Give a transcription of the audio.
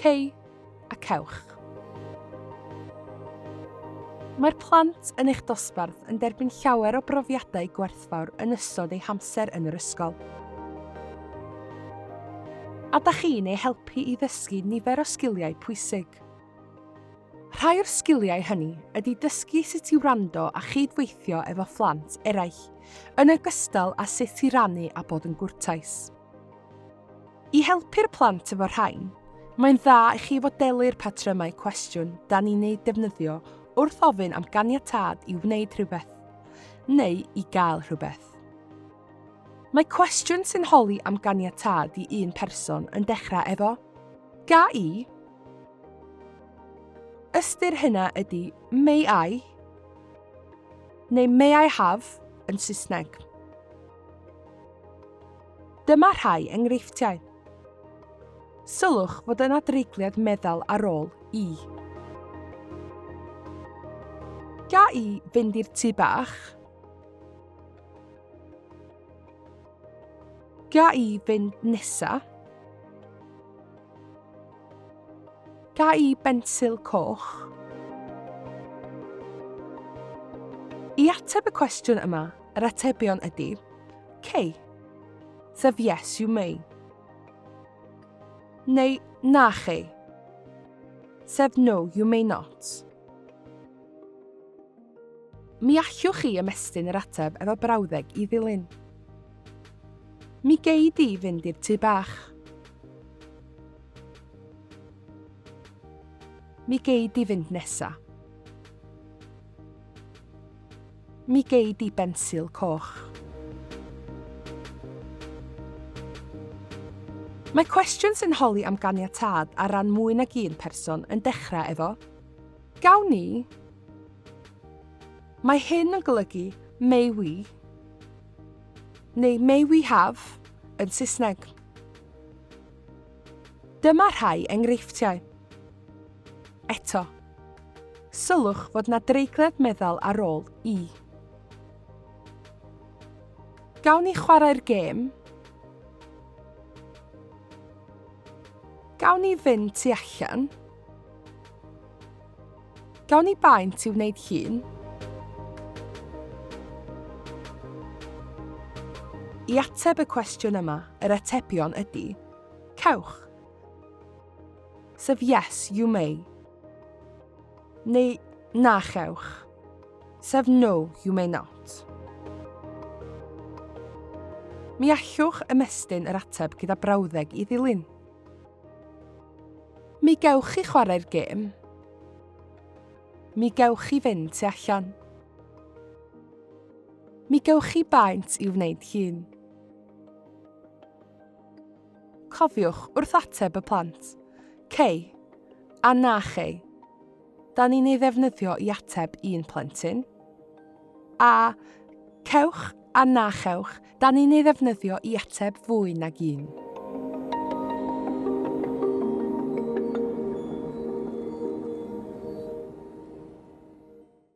Cei a cewch. Mae'r plant yn eich dosbarth yn derbyn llawer o brofiadau gwerthfawr yn ystod eu hamser yn yr ysgol. A da chi'n eu helpu i ddysgu nifer o sgiliau pwysig. Rhai o'r sgiliau hynny ydy dysgu sut i wrando a chyd-weithio efo phlant eraill, yn ogystal â sut i rannu a bod yn gwrtais. I helpu'r plant efo'r rhain, mae'n dda i chi fodelu'r patrymau cwestiwn da ni'n eu defnyddio wrth ofyn am ganiatâd i wneud rhywbeth, neu i gael rhywbeth. Mae cwestiwn sy'n holi am ganiatâd i un person yn dechrau efo, Ga i? Ystyr hynna ydy may I neu may I have yn Saesneg. Dyma rhai enghreifftiau. Sylwch fod yna dreigliad meddal ar ôl i. Ga i fynd i'r tu bach? Ga i fynd nesa? Ga i bensil coch? I ateb y cwestiwn yma, yr atebion ydy Cei, sef yes you may, neu na chi, sef no you may not. Mi allwch chi ymestyn yr ateb efo brawddeg i ddilyn. Mi gei di fynd i'r tŷ bach. Mi gei di fynd nesa. Mi gei di bensil coch. Mae cwestiwn sy'n holi am ganiatâd ar ran mwy nag un person yn dechrau efo Gawn ni? Mae hyn yn golygu may we neu may we have yn Saesneg. Dyma rhai enghreifftiau. Eto, sylwch fod na dreiglad meddal ar ôl i. Gawn ni chwarae'r gêm? Gawn ni fynd tu allan? Gawn ni baent i wneud llun? I ateb y cwestiwn yma, yr atebion ydy, cewch. Sef yes, you may. Neu na chewch. Sef no, you may not. Mi allwch ymestyn yr ateb gyda brawddeg i ddilyn. Mi gewch chi chwarae'r gêm. Mi gewch chi fynd tu allan. Mi gewch chi baent i'w wneud llun. Cofiwch wrth ateb y plant. Cei. A na chei. Da ni'n ei ddefnyddio i ateb un plentyn. A cewch a na chewch Da ni'n ei ddefnyddio i ateb fwy nag un.